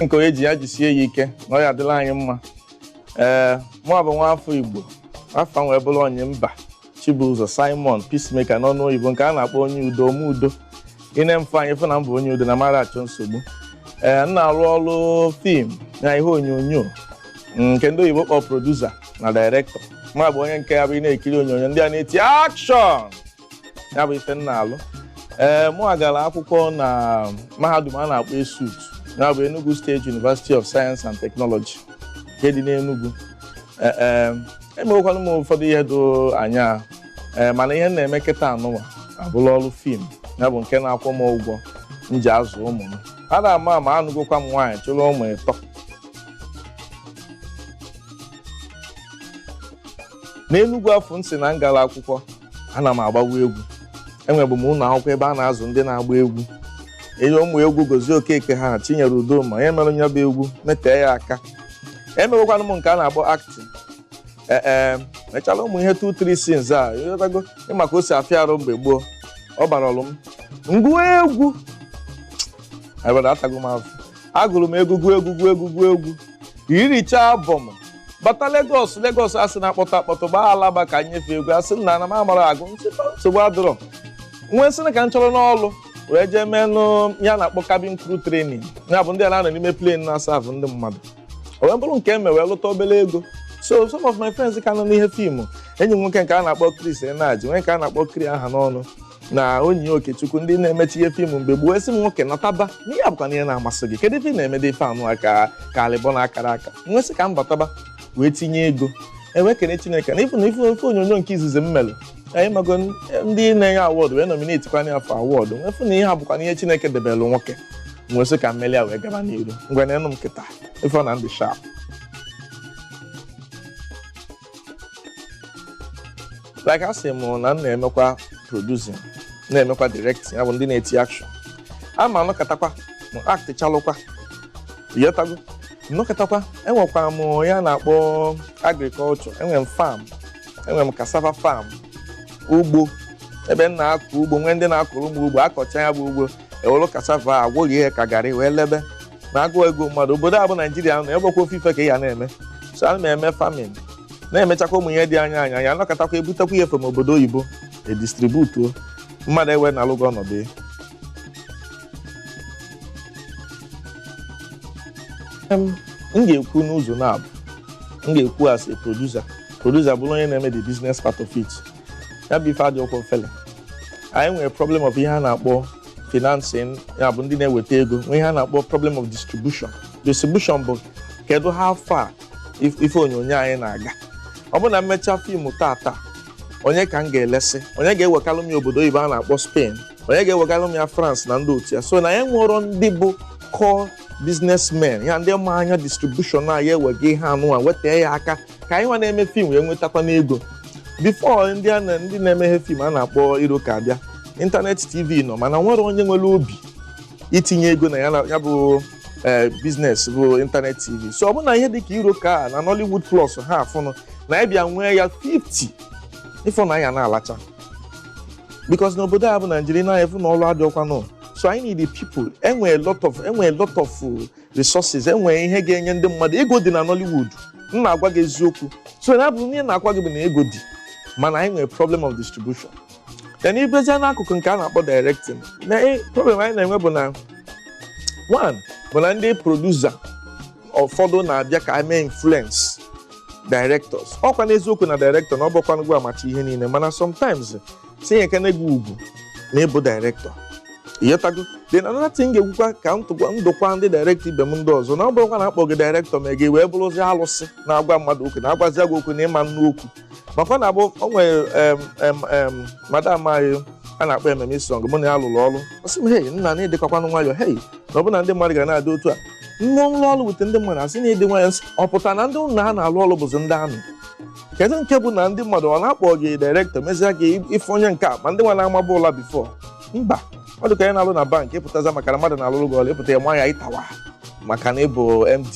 nke onye ji ya jisie ya ike na ọ ya-adịlị anyị mma ee mụa bụ nwa afọ igbo afa m wee bụrụ onyemba chibụzọ simon peacemaker n'ọnụ oyibo nke a na-akpọ onye udo ome udo i nee m anya ị fụ na m bụ onye udo na m ara achọ nsogbu ee m na-arụ ọrụ film na ihe onyonyo nke ndị oyibo kpọ producer na director mụa bụ onye nke ya bụ ị na-ekiri onyonyo ndị a na-eti action ya bụ ife m na-alụ ee mụa gara akwụkwọ na mahadum a na-akpọ esut ya bụ Enugu State University of Science and Technology nke dị n'Enugu ee emewekwanụ m ụfọdụ ihe do anya ee mana ihe m na-eme kịta anụnwa abụlụ ọrụ film ya bụ nke na-akwụ m ụgwọ m ji azụ ụmụ m a na-ama ama anụgokwa m nwaanyị chịrị ụmụ ịtọ n'enugwu afụ m sị na m gara akwụkwọ ana m agbawa egwu enwebu m ụlọ akwụkwọ ebe a na-azụ ndị na-agba egwu i nee ụmụ egwu gozie okeke ha chinyere udoma ya mere nya bụ egwu metee ya aka emewekwanụ m nke a na-akpọ acting ee ee mechala ụmụ ihe 2-3 scenes a ị ghọtago ị ma ka o si afịa arụ mgbe gboo ọ bara ọlụ m ngụọ egwu ebere atago m afụfụ agụrụ m egwu gụọ egwu gụọ egwu gụọ egwu iricha album bata Lagos Lagos a sị na-akpọtụ akpọtụ gbaa alaba ka m nye fa egwu a sị m na m amarọ agụ m sị nsogbu adịrọ m wee sị ka m chọrọnụ ọlụ wee jee meenụ ihe a na-akpọ cabin crew training ya bụ ndị a na-anọ n'ime plane na-asavụ ndị mmadụ o wee bụrụ nke eme wee lụta obere ego so some of my friends ka nọ n'ihe film enyi m nwoke nke a na-akpọ Chris Eneaji nwee nke a na-akpọ Kri Ahanonu na onyi okechukwu ndị na-emecha ihe film mgbe gboo wee sị m nwoke nataba na ihe a bụkwanụ ihe na-amasị gị kedu ife ị na-emede ife anụ a ka ka alịbọ na akara aka m wee sị ka m bataba wee tinye ego m wee kene chineke na ife na ife onyonyo nke izizi m mere anyị mago n- ndị na-enye award wee nominate kwa ya for award m wee fụ na ihe a bụkwanụ ihe chineke debelụ nwoke m wee sị ka m meli ya wee gaba n'iru ngwa neenụ m kịta ị fụ na m dị sharp like a sị m na m na-emekwa producing na-emekwa directing ya bụ ndị na-eti action a na m anọkatakwa m actichalụkwa ị ghọtago nọkatakwa enwekwara m ihe a na-akpọ agriculture enwere m farm enwere m cassava farm ugbo ebe m na-akọ ugbo nwee ndị na-akọrọ m ugbo a kọchaa ya bụ ugbo e were cassava e gwerie ya ka garri wee lebe na agụụ egbuo mmadụ obodo a bụ naijiria nọ egbekwa ofu ife ka ị ya na-eme so ana m eme farming na-emechakwa ụmụ ihe dị anya anya ya anọkatakwa ebutekwa ihe from obodo oyibo edistributuo mmadụ e wee na-alụgo ọnọdụ ya Em, m ga-ekwu n'ụzọ naabọ m ga-ekwu as a producer producer bụrụ onye na-eme the business part of it ya bụ ife adịọkwọ mfele anyị nwere problem of ihe a na-akpọ financing ya bụ ndị na-eweta ego nwee ihe a na-akpọ problem of distribution distribution bụ kedu how far if- ife onyonyo anyị na-aga ọ bụrụ na m mechaa fim tata onye ka m ga-elesi onye ga-ewegalụ m ya obodo oyibo a na-akpọ spain onye ga-ewegalụ m ya france na ndị otu ya so na ya nwere ndị bụ core businessmen ya ndị ma anya distribution a ya-ewega ihe anụnwa weta ya aka ka anyị nwa na-eme fim wee nwetakwanụ ego bifo ndị a na ndị na-emeghe fim a na-akpọ iroko abịa ịntanetị tv nọ mana o nwerọ onye nwere obi itinye ego na ya na- ya bụ ee biznes bụ ịntanetị tv so ọ bụrụ na ihe dịka iroko a na nollywood plus ha afụnụ na anyị bịa nwee ya 50 ịfụ na anyị a na-alacha bikos n'obodo a bụ naijiria na-efu na ọrụ adịọkwanụ so anyị need the people enwe a lot of enwe a lot of uh, resources enwe ihe ga-enye ndị mmadụ ego dị na Nollywood m na-agwa gị eziokwu so na abụ ihe na-agwa gị bụ na ego dị mana anyị nwere problem of distribution then ị bịazia n'akụkụ nke a na-akpọ directing na eh, problem anyị na-enwe bụ na one bụ na ndị producer ụfọdụ na-abịa ka e mee influence directors ọkwa n'eziokwu na director na ọ bụọkwanụ gịwa macha ihe niile mana sometimes tinyekene gị ugwu na ị bụ dairektọ ịghọtago then another thing ga-ekwukwa ka m tụkwa m dụkwa ndị dairektọ ibe m ndị ọzọ na ọ bụrụkwa na akpọ gị dairektọ ma gị wee bụrụzi alụsị na-agwa mmadụ okwu na-agwazi gị okwu na ị ma anụ okwu makwa na abụ o nwere em, em, em, madam anyị a na-akpọ emem isong mụ na ya lụrụ ọrụ ọ sị m hei nna na ịdịkakwanụ nwayọ hei na ọ bụ na ndị mmadụ ga na-adị otu a nne m lụọ ọrụ wute ndị mmadụ asị na ịdị nwayọ ọ pụtara na ndị ụnụ ha na-alụ ọrụ bụzi ndị army kedu nke bụ na ndị mmadụ ọ na-akpọ gị direktọ mezie gị ife onye nke a ma ndị nwa na-amaba ụla bifo mba ọ dị ka anyị na-alụ na bankị ịpụtaza maka na mmadụ na-alụrụ gị ọrụ ịpụta ya ma ya ịtawa maka na ị bụ md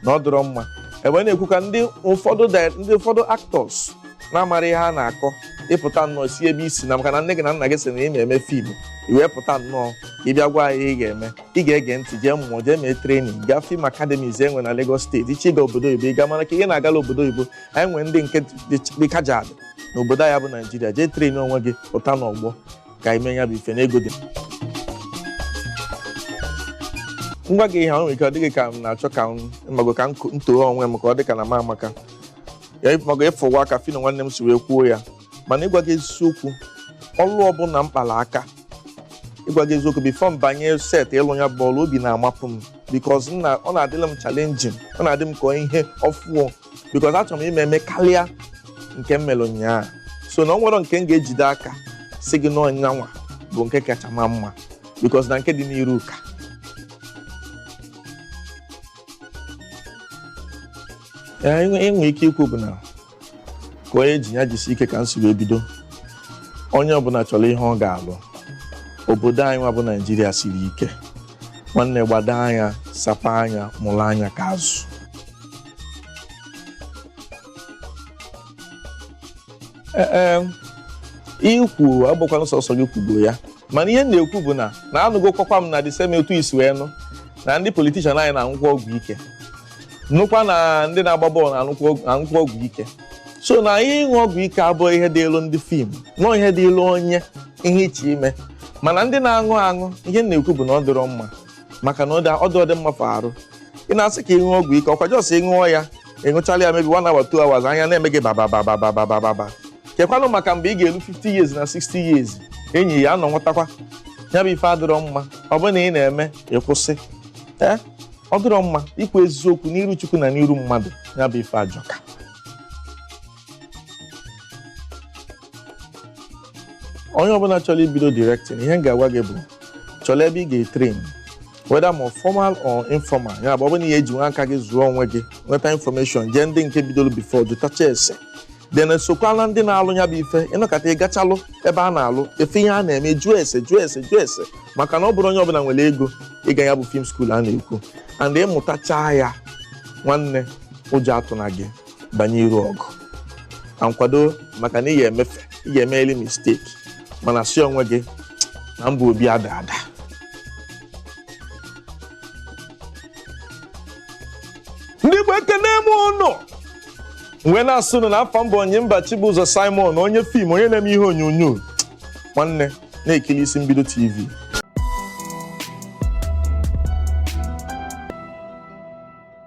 na ọ dịrọ mma ebe na-ekwu ka ndị ụfọdụ di- ndị ụfọdụ actors na-amarọ ihe a na-akọ ịpụta nnọọ si ebe i si na maka na nne gị na nna gị sị na ị na-eme fiimu i wee pụta nnọọ ka ị bịa gwa anyị ihe ị ga-eme ị ga-ege ntị jee mụọ jee mee trenin gaa fim akademis enwe na Lagos steeti ị chọọ ịga obodo oyibo ị gaa mana kee ihe na-agala obodo oyibo anyị nwere ndị nke dị kajad na obodo anyị bụ naijiria jee trenin onwe gị pụta n'ọgbọ ka anyị mee ya bụ ife na ego dị m gwa gị ihe ahụ nwere ike ọ dị gị ka m na-achọ ka m mago ka m too onwe m ka ọ dị ka na m amaka ya mago ịfụwa ka phyno nwanne m si wee kwuo ya mana ịgwa gị eziokwu ọlụ ọbụla m kpala aka ịgwa gị eziokwu bifo m banye set ịlụ ya bụ ọlụ obi na-amapụ m bikos ọ na-adịlị m chalenjin ọ na-adị m ka ihe ọfụọ bikos achọrọ m ime eme kalịa nke m mere ụnyaahụ so na o nwerọ nke m ga-ejide aka sị gị na ọ nyanwa bụ nke kacha ma mma bikos na nke dị n'iru ka enwe ike ikwu bụ na ka onye ji ya jisi ike ka m si wee bido onye ọbụla chọrọ ihe ọ ga-alụ obodo anyị nwa bụ naijiria siri ike nwanne gbado anya sapa anya mụrụ anya ka azụ ee ihe i kwu agbakwana sọsọ gị kwugo ya mana ihe m na-ekwu bụ na na anụgokwakwa m na the same otu i si wee nụ na ndị politishan anyị na-aṅụkwa ọgwụ ike nụkwa na ndị na-agba bọọlụ na-aṅụkwa ọgwụ ike so na ihe ịṅụ ọgwụ ike abụghị ihe dịịlụ ndị fim no ọ ihe dịịlụ onye ihe iche ime mana ndị na-aṅụ aṅụ ihe m na-ekwu bụ na ọ dịrọ mma maka na ọ dị ọ dị mma for arụ ị na-asị ka ịṅụ ọgwụ ike ọ kwa just ị ṅụọ ya ị ṅụchala ya maybe one hour two hours anya na-eme gị bababababababa kekwanụ maka mgbe ị ga-elu 50 years na 60 years enyi ya anọ nwatakwa ya bụ ife adịrọ mma ọ bụrụ na ị na-eme ị kwụsị ee ọ dịrọ mma ikwu eziokwu n'iru chukwu na n'iru mmadụ ya bụ ife ajọka onye ọbụla chọrọ ibido directing ihe m ga-agwa gị bụ chọrọ ebe ị ga-etrain whether ma ọ formal or informal ya bụ ọ bụrụ na ị ya-eji nwa aka gị zụọ onwe gị nweta information jee ndị nke bidoro before jụtacha ese then sokwalụ ndị na-alụ ya bụ ife ị nọkata ị gachalụ ebe a na-alụ ị fụ ihe a na-eme jụọ ese jụọ ese jụọ ese maka na ọ bụrọ onye ọbụla nwere ego ịga ya bụ film school a na-ekwu and ị mụtachaa ya nwanne ụjọ atụna gị banye iru ọgụ and kwado maka na ị ga-emefe ị ga-emeli mistake mana sị onwe gị na mba obi ada ada ndị Igbo ekene m ụnụ wee na-asị unu na afa m bụ Onyemba Chibụzọ Simon onye fim onye na-eme ihe onyonyo nwanne na-ekili Isi Mbido TV